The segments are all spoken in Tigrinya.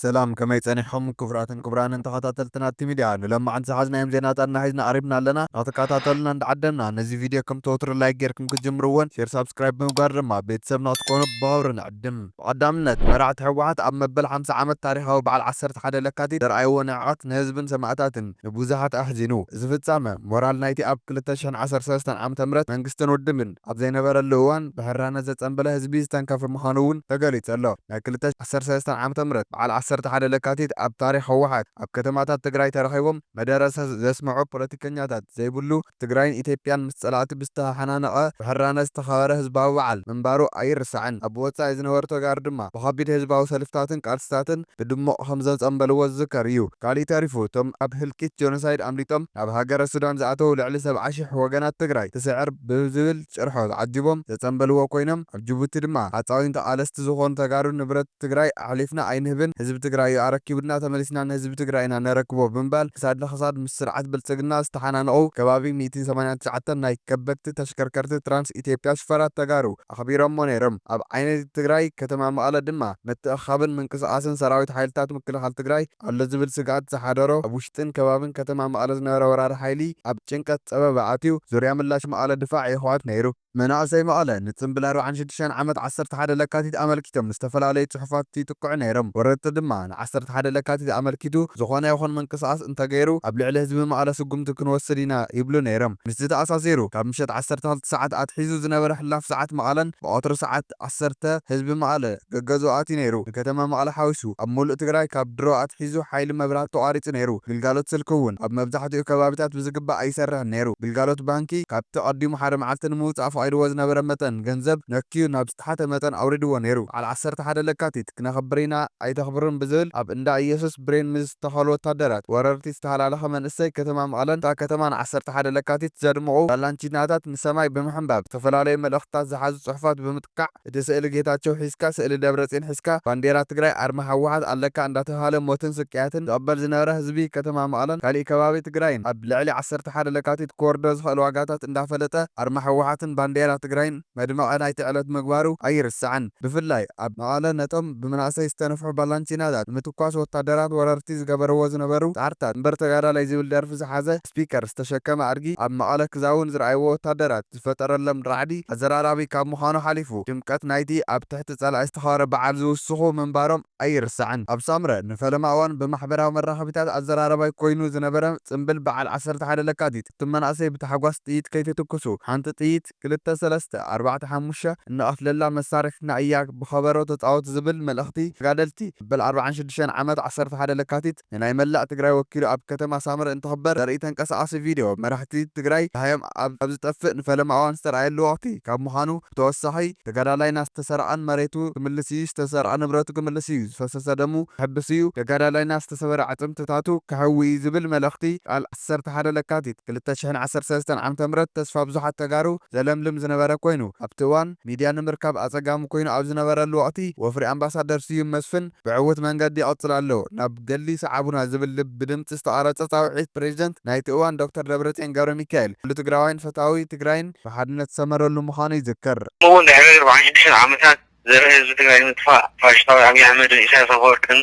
ሰላም ከመይ ጸኒሕኹም ክቡራትን ክቡራንን ተኸታተልቲ ናቲ ሚድያ ንሎማዓንቲ ዝሓዝናዮም ዜናታትና ሒዝና ቐሪብና ኣለና ንኽትከታተሉና እንዳዓደምና ነዚ ቪድዮ ከምቲ ወትሩ ላይክ ጌርኩም ክትጅምርዎን ሼር ሳብስክራይብ ብምግባር ድማ ቤተሰብ ንኽትኮኑ ብኽብሪ ንዕድም። ብቐዳምነት መራሕቲ ህወሓት ኣብ መበል ሓምሳ ዓመት ታሪኻዊ በዓል ዓሰርተ ሓደ ለካቲት ዘርኣይዎ ንዕቐት ንህዝብን ሰማእታትን ንብዙሓት ኣሕዚኑ። እዚ ፍጻመ ሞራል ናይቲ ኣብ ክልተ ሽሕን ዓሰርተ ሰለስተን ዓመተ ምህረት መንግስትን ውድብን፣ ኣብ ዘይነበረሉ እዋን ብሕራነት ዘጸንበለ ህዝቢ ዝተንከፈ ምዃኑ እውን ተገሊጹ ኣሎ። ናይ ክልተ ሺህ ዓሰርተ ሰለስተ ዓመተ ምህረት በዓል ዓሰርተ ሓደ ለካቲት ኣብ ታሪኽ ህወሓት ኣብ ከተማታት ትግራይ ተረኺቦም መደረ ዘስምዑ ፖለቲከኛታት ዘይብሉ ትግራይን ኢትዮጵያን ምስ ጸላእቲ ብዝተሓናነቐ ብሕራነት ዝተኸበረ ህዝባዊ በዓል ምንባሩ ኣይርሳዕን። ኣብ ወጻኢ ዝነበሩ ተጋሩ ድማ ብኸቢድ ህዝባዊ ሰልፍታትን ቃልስታትን ብድሙቕ ከም ዘጸምበልዎ ዝዝከር እዩ። ካሊእ ተሪፉ እቶም ኣብ ህልቂት ጆኖሳይድ ኣምሊጦም ናብ ሃገረ ሱዳን ዝኣተው ልዕሊ ሰብዓ ሽሕ ወገናት ትግራይ ትስዕር ብዝብል ጭርሖ ዓጂቦም ዘጸምበልዎ ኮይኖም ኣብ ጅቡቲ ድማ ሃጻዊን ተቓለስቲ ዝኾኑ ተጋሩ ንብረት ትግራይ ኣሕሊፍና ኣይንህብን ህዝቢ ትግራይ እዩ ኣረኪቡልና ተመሊስና ንህዝቢ ትግራይ ኢና ነረክቦ ብምባል ክሳድ ንክሳድ ምስ ስርዓት ብልጽግና ዝተሓናነቑ ከባቢ ሚእትን ሰማንያን ትሽዓተን ናይ ከበድቲ ተሽከርከርቲ ትራንስ ኢትዮጵያ ሽፈራት ተጋሩ ኣኽቢሮሞ ነይርም። ኣብ ዓይነቲ ትግራይ ከተማ መቐለ ድማ ምትእኽኻብን ምንቅስቓስን ሰራዊት ሓይልታት ምክልኻል ትግራይ ኣሎ ዝብል ስግኣት ዝሓደሮ ኣብ ውሽጥን ከባብን ከተማ መቐለ ዝነበረ ወራሪ ሓይሊ ኣብ ጭንቀት ፀበባ ኣትዩ ዙርያ ምላሽ መቐለ ድፋዕ የሕዋት ነይሩ። መናእሰይ መቐለ ንፅምብል ኣርብዓን ሽዱሽተን ዓመት ዓሰርተ ሓደ ለካቲት ኣመልኪቶም ንዝተፈላለዩ ፅሑፋት ይጥቅዑ ነይርም። ወረርቲ ድማ። ን ዓሰርተ ሓደ ለካቲት ኣመልኪቱ ዝኾነ ይኹን ምንቅስቓስ እንተገይሩ ኣብ ልዕሊ ህዝቢ መቐለ ስጉምቲ ክንወስድ ኢና ይብሉ ነይሮም። ምስዚ ተኣሳሲሩ ካብ ምሸት ዓሰርተ ክልተ ሰዓት ኣትሒዙ ዝነበረ ሕላፍ ሰዓት መቐለን ብቐትሩ ሰዓት ዓሰርተ ህዝቢ መቐለ ገገዝኡ ኣትዩ ነይሩ። ንከተማ መቐለ ሓዊሱ ኣብ ሙሉእ ትግራይ ካብ ድሮ ኣትሒዙ ሓይሊ መብራህቲ ተቋሪፁ ነይሩ። ግልጋሎት ስልኪ እውን ኣብ መብዛሕቲኡ ከባቢታት ብዝግባእ ኣይሰርሕን ነይሩ። ግልጋሎት ባንኪ ካብቲ ቀዲሙ ሓደ መዓልቲ ንምውፃእ ፈቒድዎ ዝነበረ መጠን ገንዘብ ነክዩ ናብ ዝተሓተ መጠን ኣውሪድዎ ነይሩ። በዓል ዓሰርተ ሓደ ለካቲት ክነኽብር ኢና ኣይተኽብሩን ብዝብል ኣብ እንዳ እየሱስ ብሬን ምስ ዝተኸሉ ወታደራት ወረርቲ ዝተሃላለኸ መንእሰይ ከተማ መቐለን እታ ከተማ ን ዓሰርተ ሓደ ለካቲት ዘድምቑ ላላንቺናታት ንሰማይ ብምሕንባብ ዝተፈላለዩ መልእኽትታት ዝሓዙ ፅሑፋት ብምጥቃዕ እቲ ስእሊ ጌታቸው ሒዝካ ስእሊ ደብረፅዮን ሒዝካ ባንዴራ ትግራይ ኣርማ ህወሓት ኣለካ እንዳተብሃለ ሞትን ስቅያትን ዝቕበል ዝነበረ ህዝቢ ከተማ መቐለን ካሊእ ከባቢ ትግራይን ኣብ ልዕሊ ዓሰርተ ሓደ ለካቲት ክወርዶ ዝኽእል ዋጋታት እንዳፈለጠ ኣርማ ህወሓትን ባንዴራ ትግራይን መድመቒ ናይቲ ዕለት ምግባሩ ኣይርሳዕን። ብፍላይ ኣብ መቐለ ነቶም ብመናእሰይ ዝተነፍሑ ባላንቺናታት ንምትኳስ ወታደራት ወረርቲ ዝገበርዎ ዝነበሩ ጻዕርታት እምበር ተጋዳላይ ዝብል ደርፊ ዝሓዘ ስፒከር ዝተሸከመ ኣድጊ ኣብ መቐለ ክዛውን ዝረኣይዎ ወታደራት ዝፈጠረሎም ራዕዲ ኣዘራራቢ ካብ ምዃኑ ሓሊፉ ድምቀት ናይቲ ኣብ ትሕቲ ጸላኢ ዝተኸበረ በዓል ዝውስኹ ምንባሮም ኣይርሳዕን። ኣብ ሳምረ ንፈለማ እዋን ብማሕበራዊ መራኸቢታት ኣዘራራባይ ኮይኑ ዝነበረ ጽንብል በዓል ዓሰርተ ሓደ ለካቲት እትም መናእሰይ ብታሕጓስ ጥይት ከይትትኩሱ ሓንቲ ጥይት ክልተ ሰለስተ ኣርባዕተ ሓሙሽተ እንቐትለላ መሳርሕትና እያ ብኸበሮ ተጻወት ዝብል መልእኽቲ ተጋደልቲ መበል ኣርብዓን ሽዱሽተን ዓመት ዓሰርተ ሓደ ለካቲት ንናይ መላእ ትግራይ ወኪሉ ኣብ ከተማ ሳምረ እንትኽበር ዘርኢ ተንቀሳቓሲ ቪድዮ መራሕቲ ትግራይ ደሃዮም ኣብ ዝጠፍእ ንፈለማ እዋን ዝተርኣየሉ ወቕቲ ካብ ምዃኑ ብተወሳኺ ተጋዳላይና ዝተሰርቐን መሬቱ ክምልስ እዩ ዝተሰርቐ ንብረቱ ክምልስ እዩ ዝፈሰሰ ደሙ ክሕብስ እዩ ተጋዳላይና ዝተሰበረ ኣዕጽምትታቱ ከሕዊ እዩ ዝብል መልእኽቲ ቃል ዓሰርተ ሓደ ለካቲት ክልተ ሽሕን ዓሰርተ ሰለስተን ዓመተ ምህረት ተስፋ ብዙሓት ተጋሩ ዘለምልም ዝነበረ ኮይኑ፣ ኣብቲ እዋን ሚድያ ንምርካብ ኣፀጋሚ ኮይኑ ኣብ ዝነበረሉ ወቕቲ ወፍሪ ኣምባሳደር ስዩም መስፍን ብዕዉት መንገዲ ይቕፅል ኣሎ ናብ ገድሊ ሰዓቡና ዝብል ብድምፂ ዝተቐረፀ ፃውዒት ፕሬዝደንት ናይቲ እዋን ዶክተር ደብረፅዮን ገብረሚካኤል ኩሉ ትግራዋይን ፈታዊ ትግራይን ብሓድነት ዝሰመረሉ ምዃኑ ይዝከር። ከምኡ እውን ድሕሪ ኣርባዓን ሽዱሽተን ዓመታት ዘርኢ ህዝቢ ትግራይ ንምጥፋእ ፋሽስታዊ ኣብይ ኣሕመድን ኢሳያስ ኣፈወርቅን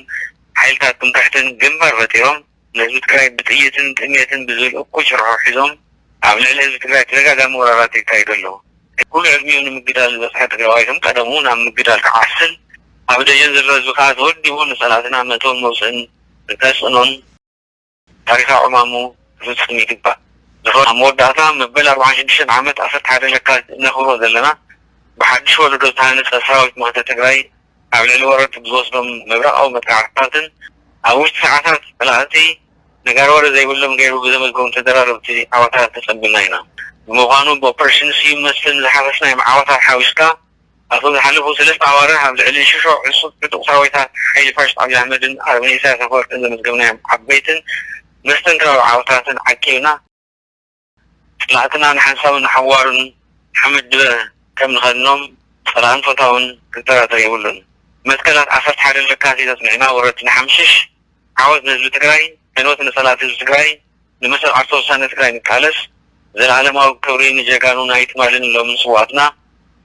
ሓይልታት ትምክሕትን ግንባር ፈጢሮም ንህዝቢ ትግራይ ብጥይትን ጥምየትን ብዝብል እኩይ ጭርሖ ሒዞም ኣብ ልዕሊ ህዝቢ ትግራይ ተደጋጋሚ ወራራት የካይዱ ኣለዉ። ኩሉ ዕድሚኡ ንምግዳል ዝበፅሐ ትግራዋይ ከም ቀደሙ ናብ ምግዳል ክዓስል ኣብ ደጀን ዘሎ ህዝቢ ከዓ ተወዲቡ ንፀላእትና መእተውን መውፅእን ከፅዕኖን፣ ታሪኻ ዕማሙ ክፍጽም ይግባእ። ንፈ ኣብ መወዳእታ መበል ኣርብዓን ሽዱሽተን ዓመት ዓሰርተ ሓደ ለካቲት እነኽብሮ ዘለና ብሓድሽ ወለዶ ዝተሃነጸ ሰራዊት መኸተ ትግራይ ኣብ ልዕሊ ወረርቲ ብዝወስዶም ምብራቓዊ መጥቃዕትታትን ኣብ ውሽጢ ሰዓታት ጸላእቲ ነጋሪ ወረ ዘይብሎም ገይሩ ብዘመዝገቦም ተደራረብቲ ዓወታት ተጸምቢልና ኢና። ብምዃኑ ብኦፕሬሽን ስዩም መስፍን ዝሓፈስናዮም ዓወታት ሓዊስካ፣ ኣብቶም ዝሓለፉ ሰለስተ ኣዋርሕ ኣብ ልዕሊ ሽሾ ዕሱብ ዕጡቕ ሰራዊታት ሓይሊ ፋሽስት ኣብይ ኣሕመድን ኣረመኔ ኢሳያስ ኣፈወርቅን ዘመዝገብናዮም ዓበይትን መስተንክራዊ ዓወታትን ዓቂብና፣ ጸላእትና ንሓንሳብን ንሓዋሩን ሓመድ ድበ ከም ንኸድኖም ጸላእን ፈታውን ክጠራጠር የብሉን። መትከላት ዓሰርተ ሓደ ለካቲት ኣጽኒዕና ወረርቲ ንሓምሽሽ። ዓወት ንህዝቢ ትግራይ ዕንወት ንፀላእቲ ህዝቢ ትግራይ ንመሰል ዓርሰ ውሳነ ትግራይ ንቃለስ ዘለኣለማዊ ክብሪ ንጀጋኑ ናይ ትማሊን ሎሚን ስውኣትና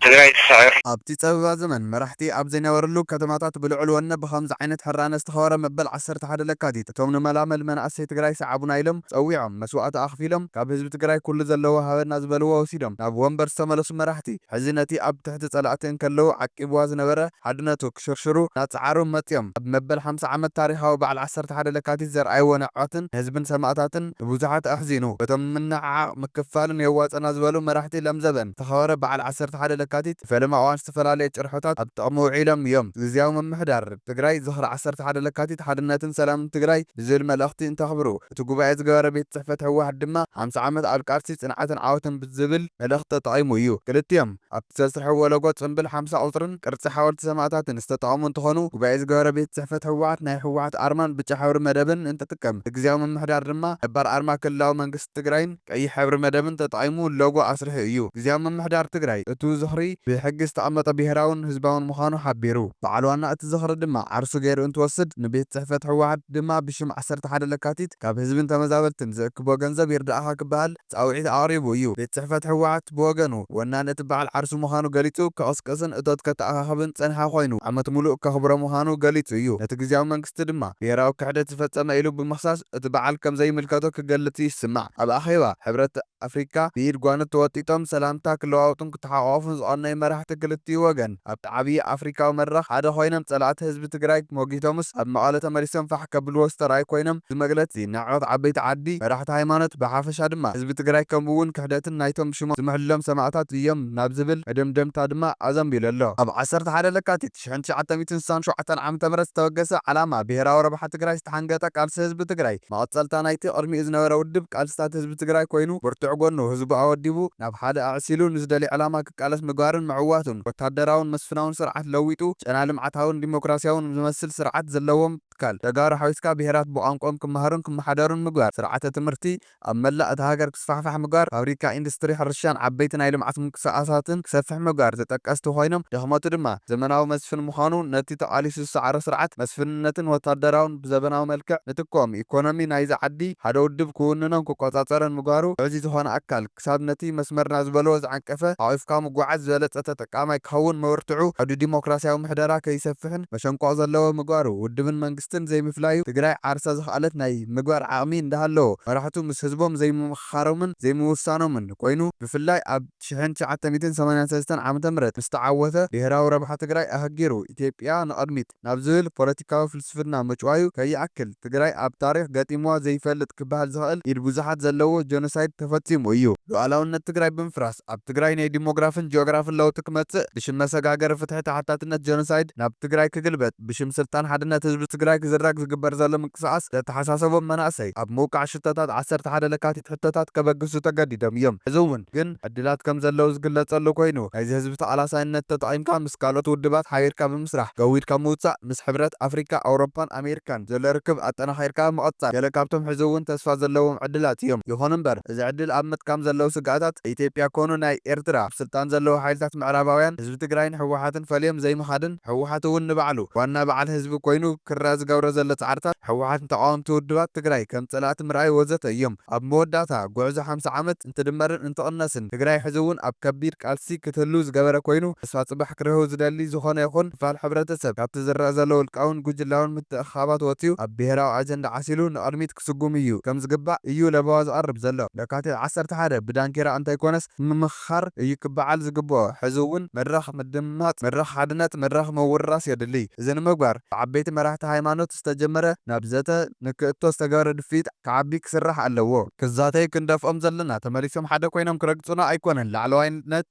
ትግራይ ትስዕር። ኣብቲ ጸበባ ዘመን መራሕቲ ኣብ ዘይነበርሉ ከተማታት ብልዑል ወነ ብኸምዚ ዓይነት ሕራነ ዝተኸበረ መበል ዓሰርተ ሓደ ለካቲት እቶም ንመላመል መናእሰይ ትግራይ ሰዓቡና ኢሎም ጸዊዖም መስዋእቲ ኣኽፊሎም ካብ ህዝቢ ትግራይ ኩሉ ዘለዎ ሃበና ዝበልዎ ወሲዶም ናብ ወንበር ዝተመለሱ መራሕቲ ሕዚ ነቲ ኣብ ትሕቲ ጸላእቲ እንከለዉ ዓቂብዋ ዝነበረ ሓድነቱ ክሽርሽሩ ናጻዓሩ መጽዮም ኣብ መበል ሓምሳ ዓመት ታሪኻዊ ባዓል ዓሰርተ ሓደ ለካቲት ዘርኣይዎ ንዕቀትን ንህዝብን ሰማእታትን ንቡዙሓት ኣሕዚኑ በቶም ንምንዕዓቕ ምክፍፋልን የዋጸና ዝበሉ መራሕቲ ለምዘበን ዝተኸበረ ባዓል ዓሰርተ ሓደ ለካቲት ብፈለማ እዋን ዝተፈላለየ ጭርሖታት ኣብ ጥቕሚ ውዒሎም እዮም ግዝያዊ ምምሕዳር ትግራይ ዝኽሪ ዓሰርተ ሓደ ለካቲት ሓድነትን ሰላምን ትግራይ ብዝብል መልእኽቲ እንተኽብሩ እቲ ጉባኤ ዝገበረ ቤት ጽሕፈት ህወሓት ድማ ሓምሳ ዓመት ኣብ ቃልሲ ጽንዓትን ዓወትን ብዝብል መልእኽቲ ተጠቒሙ እዩ። ክልቲኦም ኣብቲ ዘስርሕዎ ሎጎ ጽምብል ሓምሳ ቁጽርን ቅርጺ ሓወልቲ ሰማእታትን ዝተጠቐሙ እንትኾኑ ጉባኤ ዝገበረ ቤት ጽሕፈት ህወሓት ናይ ህወሓት ኣርማን ብጫ ሕብሪ መደብን እንትጥቀም እቲ ግዝያዊ ምምሕዳር ድማ ነባር ኣርማ ክልላዊ መንግስቲ ትግራይን ቀይሕ ሕብሪ መደብን ተጠቒሙ ሎጎ ኣስሪሑ እዩ። ግዝያዊ ምምሕዳር ትግራይ እቱ ዝኽሪ ብሕጊ ዝተቐመጠ ብሄራውን ህዝባውን ምዃኑ ሓቢሩ። በዓል ዋና እቲ ዝኽሪ ድማ ዓርሱ ገይሩ እንትወስድ ንቤት ፅሕፈት ህወሓት ድማ ብሽም ዓሰርተ ሓደ ለካቲት ካብ ህዝብን ተመዛበልትን ዝእክቦ ገንዘብ ይርድኣኻ ክበሃል ፃውዒት ኣቕሪቡ እዩ። ቤት ፅሕፈት ህወሓት ብወገኑ ወናኒ እቲ በዓል ዓርሱ ምዃኑ ገሊፁ ከቕስቅስን እቶት ከተኣኻኽብን ዝፀንሐ ኮይኑ ዓመት ሙሉእ ከኽብሮ ምዃኑ ገሊፁ እዩ። ነቲ ግዝያዊ መንግስቲ ድማ ብሄራዊ ክሕደት ዝፈፀመ ኢሉ ብምኽሳስ እቲ በዓል ከም ዘይምልከቶ ክገልጽ ይስማዕ። ኣብ ኣኼባ ሕብረት ኣፍሪቃ ብኢድ ጓንት ተወጢጦም ሰላምታ ክለዋወጡን ክተሓቋቖፉን ዝቐነዩ መራሕቲ ክልቲኡ ወገን፣ ኣብቲ ዓብዪ ኣፍሪቃዊ መድረኽ ሓደ ኮይኖም ጸላእቲ ህዝቢ ትግራይ ሞጊቶምስ ኣብ መቐለ ተመሊሶም ፋሕ ከብልዎ ዝተርኣዩ ኮይኖም እዚ መግለጺ ንዕቀት ዓበይቲ ዓዲ፣ መራሕቲ ሃይማኖት ብሓፈሻ ድማ ህዝቢ ትግራይ ከምኡ'ውን ክሕደትን ናይቶም ሽሞም ዝምሕልሎም ሰማእታት እዮም ናብ ዝብል መደምደምታ ድማ ኣዘንቢሉ ኣሎ። ኣብ ዓሰርተ ሓደ ለካቲት ሽሕን ትሽዓተ ሚእትን ስሳን ሸውዓተን ዓመተ ምህረት ዝተበገሰ ዓላማ ብሄራዊ ረብሓ ትግራይ ዝተሓንገጠ ቃልሲ ህዝቢ ትግራይ መቐፀልታ ናይቲ ቕድሚኡ ዝነበረ ውድብ ቃልስታት ህዝቢ ትግራይ ኮይኑ ብርቱዕ ጎኑ ህዝቡ ኣወዲቡ ናብ ሓደ ኣዕሲሉ ንዝደልዮ ዕላማ ክቃለስ ምግባርን ምዕዋቱን ወታደራውን መስፍናውን ስርዓት ለዊጡ ጨና ልምዓታውን ዲሞክራሲያውን ዝመስል ስርዓት ዘለዎም ትካል ተጋሩ ሓዊስካ ብሄራት ብቋንቆኦም ክማሃሩን ክመሓደሩን ምግባር ስርዓተ ትምህርቲ ኣብ መላእ እታ ሃገር ክስፋሕፋሕ ምግባር፣ ፋብሪካ፣ ኢንዱስትሪ፣ ሕርሻን ዓበይቲ ናይ ልምዓት ምንቅስቓሳትን ክሰፍሕ ምግባር ተጠቀስቲ ኮይኖም፣ ድኽመቱ ድማ ዘመናዊ መስፍን ምዃኑ ነቲ ተቓሊሱ ዝሰዓሮ ስርዓት መስፍንነትን ወታደራውን ብዘበናዊ መልክዕ ንትክኦም፣ ኢኮኖሚ ናይዛ ዓዲ ሓደ ውድብ ክውንኖን ክቆፃፀሮን ምግባሩ፣ ውዕዚ ዝኾነ ኣካል ክሳብ ነቲ መስመርና ዝበልዎ ዝዓንቀፈ ሓቒፍካ ምጉዓዝ ዝበለፀ ተጠቃማይ ክኸውን ምብርትዑ፣ ዓውዲ ዲሞክራሲያዊ ምሕደራ ከይሰፍሕን መሸንቆቕ ዘለዎ ምግባሩ፣ ውድብን መንግስትን። መንግስትን ዘይምፍላዩ ትግራይ ዓርሳ ዝኸኣለት ናይ ምግባር ዓቕሚ እንዳሃለዎ መራሕቱ ምስ ህዝቦም ዘይምምኽኻሮምን ዘይምውሳኖምን ኮይኑ ብፍላይ ኣብ ሽሕን ትሽዓተ ሚእትን ሰማንያን ሰለስተን ዓመተ ምህረት ምስ ተዓወተ ብሄራዊ ረብሓ ትግራይ ኣሀጊሩ ኢትዮጵያ ንቕድሚት ናብ ዝብል ፖለቲካዊ ፍልስፍና ምጭዋዩ ከይኣክል ትግራይ ኣብ ታሪኽ ገጢምዋ ዘይፈልጥ ክበሃል ዝኸእል ኢድ ብዙሓት ዘለዎ ጀኖሳይድ ተፈፂሙ እዩ። ሉኣላውነት ትግራይ ብምፍራስ፣ ፕሮጀክት ኣብ ትግራይ ነይ ዲሞግራፍን ጂኦግራፍን ለውጢ ክመፅእ ብሽም መሰጋገሪ ፍትሒ ተሓታትነት ጀኖሳይድ ናብ ትግራይ ክግልበጥ ብሽም ስልጣን ሓድነት ህዝቢ ትግራይ ክዝረግ ዝግበር ዘሎ ምንቅስቓስ ዘተሓሳሰቦም መናእሰይ ኣብ ምውቃዕ ሽቶታት ዓሰርተ ሓደ ለካቲት ሕቶታት ከበግሱ ተገዲዶም እዮም። ሕዚ እውን ግን ዕድላት ከም ዘለዉ ዝግለፀሉ ኮይኑ ናይዚ ህዝቢ ተቓላሳይነት ተጠቒምካ ምስ ካልኦት ውድባት ሓቢርካ ብምስራሕ ገዊድካ ምውፃእ ምስ ሕብረት ኣፍሪካ፣ ኣውሮፓን ኣሜሪካን ዘሎ ርክብ ኣጠናኺርካ ምቕፃል ገለ ካብቶም ሕዚ እውን ተስፋ ዘለዎም ዕድላት እዮም። ይኹን እምበር። እዚ ዕድል ኣብ ምጥቃም ዘለዉ ስግኣታት ኢትዮጵያ ኮኑ ናይ ኤርትራ ኣብ ስልጣን ዘለዉ ሓይልታት ምዕራባውያን ህዝቢ ትግራይን ህወሓትን ፈልዮም ዘይምኻድን ህወሓት እውን ንባዕሉ ዋና በዓል ህዝቢ ኮይኑ ክርኣ ዝገብሮ ዘሎ ፃዕርታት ህወሓት ንተቓወምቲ ውድባት ትግራይ ከም ፀላእቲ ምርኣይ ወዘተ እዮም። ኣብ መወዳእታ ጉዕዞ ሓምሳ ዓመት እንትድመርን እንትቕነስን ትግራይ ሕዚ እውን ኣብ ከቢድ ቃልሲ ክትህልው ዝገበረ ኮይኑ ተስፋ ፅባሕ ክርህው ዝደሊ ዝኾነ ይኹን ክፋል ሕብረተሰብ ካብቲ ዝረኣ ዘሎ ውልቃውን ጉጅላውን ምትእኽኻባት ወፅዩ ኣብ ብሄራዊ ኣጀንዳ ዓሲሉ ንቕድሚት ክስጉም እዩ ከም ዝግባእ እዩ ለበዋ ዝቐርብ ዘሎ። ለካቲት ዓሰርተ ሓደ ብዳንኬራ እንተይኮነስ ብምምኽኻር እዩ ክበዓል ዝግበኦ። ሕዚ እውን መድረኽ ምድምማፅ፣ መድረኽ ሓድነት፣ መድረኽ ምውርራስ የድሊ። እዚ ንምግባር ብዓበይቲ መራሕቲ ሃይማኖት ዝተጀመረ ናብ ዘተ ንክእቶ ዝተገበረ ድፍኢት ክዓቢ ክስራሕ ኣለዎ። ክዛተዩ ክንደፍኦም ዘለና ተመሊሶም ሓደ ኮይኖም ክረግፁና ኣይኮነን። ላዕለዋይነት፣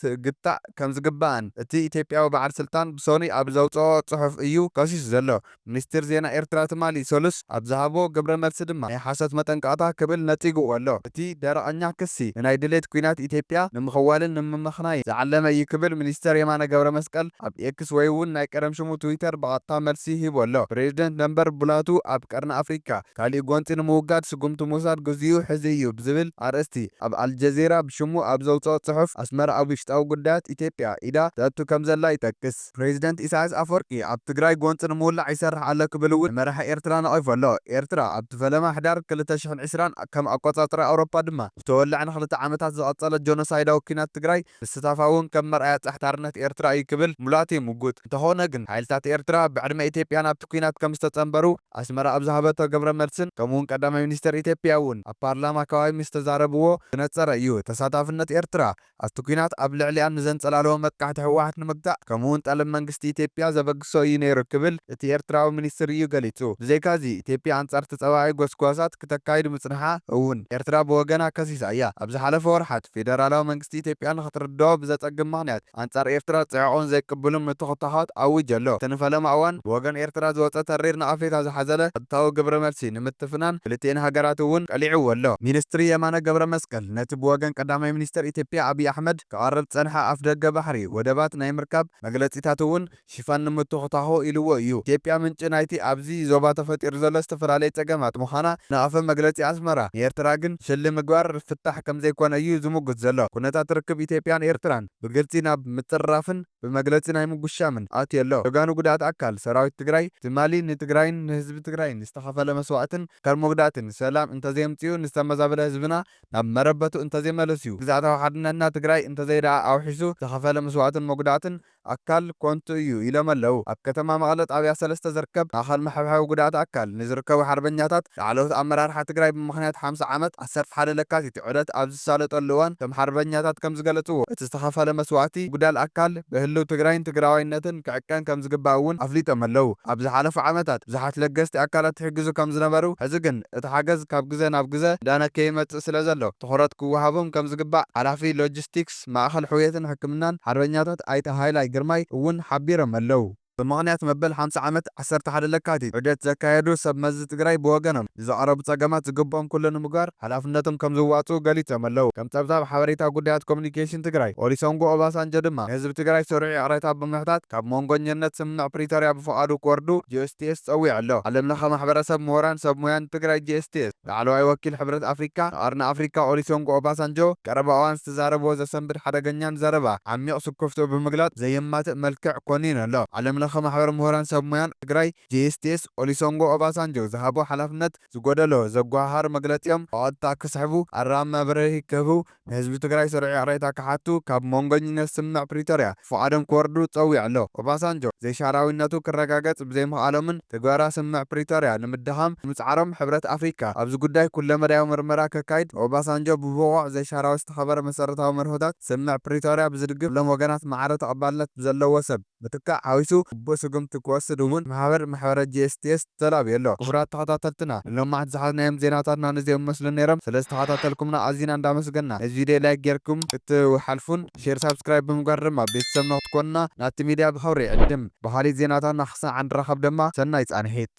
ትግታእ ከምዝግባእን እቲ ኢትዮጵያዊ በዓል ስልጣን ብሰኑይ ኣብ ዘውጸኦ ጽሑፍ እዩ ከሲሱ ዘሎ። ሚኒስትር ዜና ኤርትራ ትማሊ ሰሉስ ኣብ ዝሃቦ ግብረ መልሲ ድማ ናይ ሓሶት መጠንቀቕታ ክብል ነጺግዎ ኣሎ። እቲ ደረቐኛ ክሲ ንናይ ድሌት ኲናት ኢትዮጵያ ንምኽዋልን ንምምኽናይን ዝዓለመ እዩ ክብል ሚኒስተር የማነ ገብረመስቀል ኣብ ኤክስ ወይ'ውን ናይ ቀደም ሽሙ ትዊተር ብቐጥታ መልሲ ሂቡ ኣሎ። ፕሬዝደንት ነበር ቡላቱ ኣብ ቀርኒ ኣፍሪካ ካሊእ ጎንፂ ንምውጋድ ስጉምቲ ምውሳድ ግዚኡ ሕዚ እዩ ብዝብል ኣርእስቲ ኣብ ኣልጀዚራ ብሽሙ ኣብ ዘውፀኦ ፅሑፍ ኣስመራ ኣብ ውሽጣዊ ጉዳያት ኢትዮጵያ ኢዳ ተእቱ ከምዘላ ይጠቅስ። ፕሬዚደንት ኢሳያስ ኣፈወርቂ ኣብ ትግራይ ጎንፂ ንምውላዕ ይሰርሕ ኣሎ ክብል እውን ንመራሒ ኤርትራ ነቒፉ ኣሎ። ኤርትራ ኣብቲ ፈለማ ሕዳር ክልተ ሽሕን ዕስራን ከም ኣቆፃፅራ ኣውሮፓ ድማ ብተወላዒ ንክልተ ዓመታት ዝቐፀለ ጆኖሳይዳዊ ኲናት ትግራይ ምስታፋ እውን ከም መርኣያ ፀሕታርነት ኤርትራ እዩ ክብል ሙላቱ ይምጉት። እንተኾነ ግን ሓይልታት ኤርትራ ብዕድመ ኢትዮጵያ ናብቲ ኲናት ከምዝተፀምበሩ ኣስመራ ኣብ ዝሃበቶ ግብረ መልስን ከምኡ'ውን ቀዳማይ ሚኒስተር ኢትዮጵያ እውን ኣብ ፓርላማ ከባቢ ምስ ተዛረብዎ ዝነጸረ እዩ። ተሳታፍነት ኤርትራ ኣብቲ ኲናት ኣብ ልዕሊኣ ንዘንጸላለወ መጥቃዕቲ ህወሓት ንምግታእ ከምኡ'ውን ጠለብ መንግስቲ ኢትዮጵያ ዘበግሶ እዩ ነይሩ ክብል እቲ ኤርትራዊ ሚኒስትር እዩ ገሊጹ። ብዘይካ'ዚ ኢትዮጵያ ኣንጻር ተጻባኢ ጎስጓሳት ክተካይድ ምጽንሓ እውን ኤርትራ ብወገና ከሲሳ እያ። ኣብ ዝሓለፈ ወርሓት ፌደራላዊ መንግስቲ ኢትዮጵያ ንኽትርደኦ ብዘጸግም ምኽንያት፣ ኣንጻር ኤርትራ ጽዕቕን ዘይቅቡልን ምትኹታዃት ኣዊጁ ኣሎ። እቲ ንፈለማ እዋን ብወገን ኤርትራ ዝወጸ ተሪር ንኣፍሪካ ዝሓዘለ ቐጥታዊ ግብረ መልሲ ንምትፍናን ክልቲኤን ሃገራት እውን ቀሊዕዎ ኣሎ። ሚንስትሪ የማነ ገብረመስቀል ነቲ ብወገን ቀዳማይ ሚንስተር ኢትዮጵያ ኣብይ ኣሕመድ ክቐርብ ዝጸንሐ ኣፍደገ ባሕሪ ወደባት ናይ ምርካብ መግለጺታት እውን፣ ሽፋን ንምትዅታዅ ኢልዎ እዩ። ኢትዮጵያ ምንጪ ናይቲ ኣብዚ ዞባ ተፈጢሩ ዘሎ ዝተፈላለየ ጸገማት ምዃና ነቐፈ መግለጺ ኣስመራ። ንኤርትራ ግን ሽል ምግባር ፍታሕ ከምዘይኮነ እዩ ዝምጕት ዘሎ። ኵነታት ርክብ ኢትዮጵያን ኤርትራን ብግልጺ ናብ ምጽርራፍን ብመግለጺ ናይ ምጕሻምን ኣትዩ ኣሎ። ጀጋኑ ጕዳኣት ኣካል ሰራዊት ትግራይ ትማሊ ንትግራይን ንህዝቢ ትግራይን ዝተኸፈለ መስዋእትን ኣካል መጕዳእትን ሰላም እንተዘየምጽኡ ንዝተመዛበለ ህዝብና ናብ መረበቱ እንተዘይመለስዩ ግዝኣታዊ ሓድነትና ትግራይ እንተዘይደኣ ኣውሒሱ ዝተኸፈለ መስዋእትን መጕዳእትን ኣካል ኮንቱ እዩ ኢሎም ኣለው። ኣብ ከተማ መቐለ ጣብያ ሰለስተ ዝርከብ ማእኸል መሐብሐቢ ጉድኣት ኣካል ንዝርከቡ ሓርበኛታት ላዕለዎት ኣመራርሓ ትግራይ ብምኽንያት ሓምሳ ዓመት ዓሰርተ ሓደ ለካቲት ዑደት ኣብ ዝሳለጠሉ እዋን እቶም ሓርበኛታት ከምዝገለፅዎ እቲ ዝተኸፈለ መስዋእቲ ምጉዳል ኣካል ብህልው ትግራይን ትግራዋይነትን ክዕቀን ከምዝግባእ እውን ኣፍሊጦም ኣለው። ኣብ ዝሓለፉ ዓመታት ብዙሓት ለገስቲ ኣካላት ይሕግዙ ከምዝነበሩ ሕዚ ግን እቲ ሓገዝ ካብ ግዘ ናብ ግዘ እንዳነከየ ይመፅእ ስለዘሎ ትኹረት ክወሃቦም ከምዝግባእ ሓላፊ ሎጂስቲክስ ኣባላት ማእኸል ሕውየትን ሕክምናን ሓርበኛታት ኣይተ ሃይላይ ግርማይ እውን ሓቢሮም ኣለው። ብምኽንያት መበል ሓምሳ ዓመት ዓሰርተ ሓደ ለካቲት ዑደት ዘካየዱ ሰብ መዚ ትግራይ ብወገኖም ንዝቐረቡ ፀገማት ዝግብኦም ኩሉ ንምግባር ሓላፍነቶም ከምዝዋፅኡ ገሊፆም ኣለው። ከም ፀብፃብ ሓበሬታ ጉዳያት ኮሙኒኬሽን ትግራይ ኦሊሰንጎ ኦባሳንጆ ድማ ንህዝቢ ትግራይ ስሩዕ ይቕሬታ ብምሕታት ካብ ሞንጎኘነት ስምምዕ ፕሪቶርያ ብፍቓዱ ክወርዱ GSTS ፀዊዑ ኣሎ። ዓለምለኸ ማሕበረሰብ፣ ምሁራን፣ ሰብ ሙያ ንትግራይ GSTS። ላዕለዋይ ወኪል ሕብረት ኣፍሪካ ንቀርኒ ኣፍሪካ ኦሊሶንጎ ኦባሳንጆ ቀረባ እዋን ዝተዛረብዎ ዘሰንብድ ሓደገኛን ዘረባ ዓሚቕ ስኩፍትኡ ብምግላፅ ዘየማትእ መልክዕ ኮኒኑ ኣሎ። ዓለም ለኸ ማሕበር ምሁራን ሰብ ሙያን ትግራይ፣ JSTS፣ ኦሊሶንጎ ኦባሳንጆ ዝሃቦ ሓላፍነት ዝጎደሎ ዘጓሃሃር መግለፂኦም ብቐጥታ ክስሕቡ፣ ኣረኣም መብረሂ ክህቡ፣ ንህዝቢ ትግራይ ስሩዕ ይቕሬታ ክሓቱ ካብ ሞንጎኝነት ስምምዕ ፕሪቶርያ ፍቓዶም ክወርዱ ጸዊዑ ኣሎ። ኦባሳንጆ ዘይሻራዊነቱ ክረጋገጽ ብዘይምኽኣሎምን ትግበራ ስምምዕ ፕሪቶርያ ንምድኻም ብምጽዓሮም ሕብረት ኣፍሪካ ኣብዚ ጉዳይ ኩለመዳያዊ ምርመራ ከካይድ ንኦባሳንጆ ብብቑዕ ዘይሻራዊ ዝተኸበረ መሰረታዊ መርሆታት ስምምዕ ፕሪቶርያ ብዝድግፍ ኩሎም ወገናት ማዕረ ተቐባልነት ብዘለዎ ሰብ ምትካእ ሓዊሱ ግቡእ ስጉምቲ ክወስድ እውን ማሕበር ማሕበረ GSTS ተላብዩ ኣሎ። ክቡራት ተኸታተልትና ንሎማዕንቲ ዝሓዝናዮም ዜናታትና ነዚኦም ይመስሉ ነይሮም። ስለ ዝተኸታተልኩምና ኣዚና እንዳመስገና ነዚ ቪድዮ ላይክ ጌርኩም ክትሓልፉን ሼር ሳብስክራይብ ብምግባር ድማ ቤተሰብና ክትኮኑና ናቲ ሚድያ ብኽብሪ ይዕድም። ብኻሊእ ዜናታትና ክሳዕ እንራኸብ ድማ ሰናይ ፃንሒት።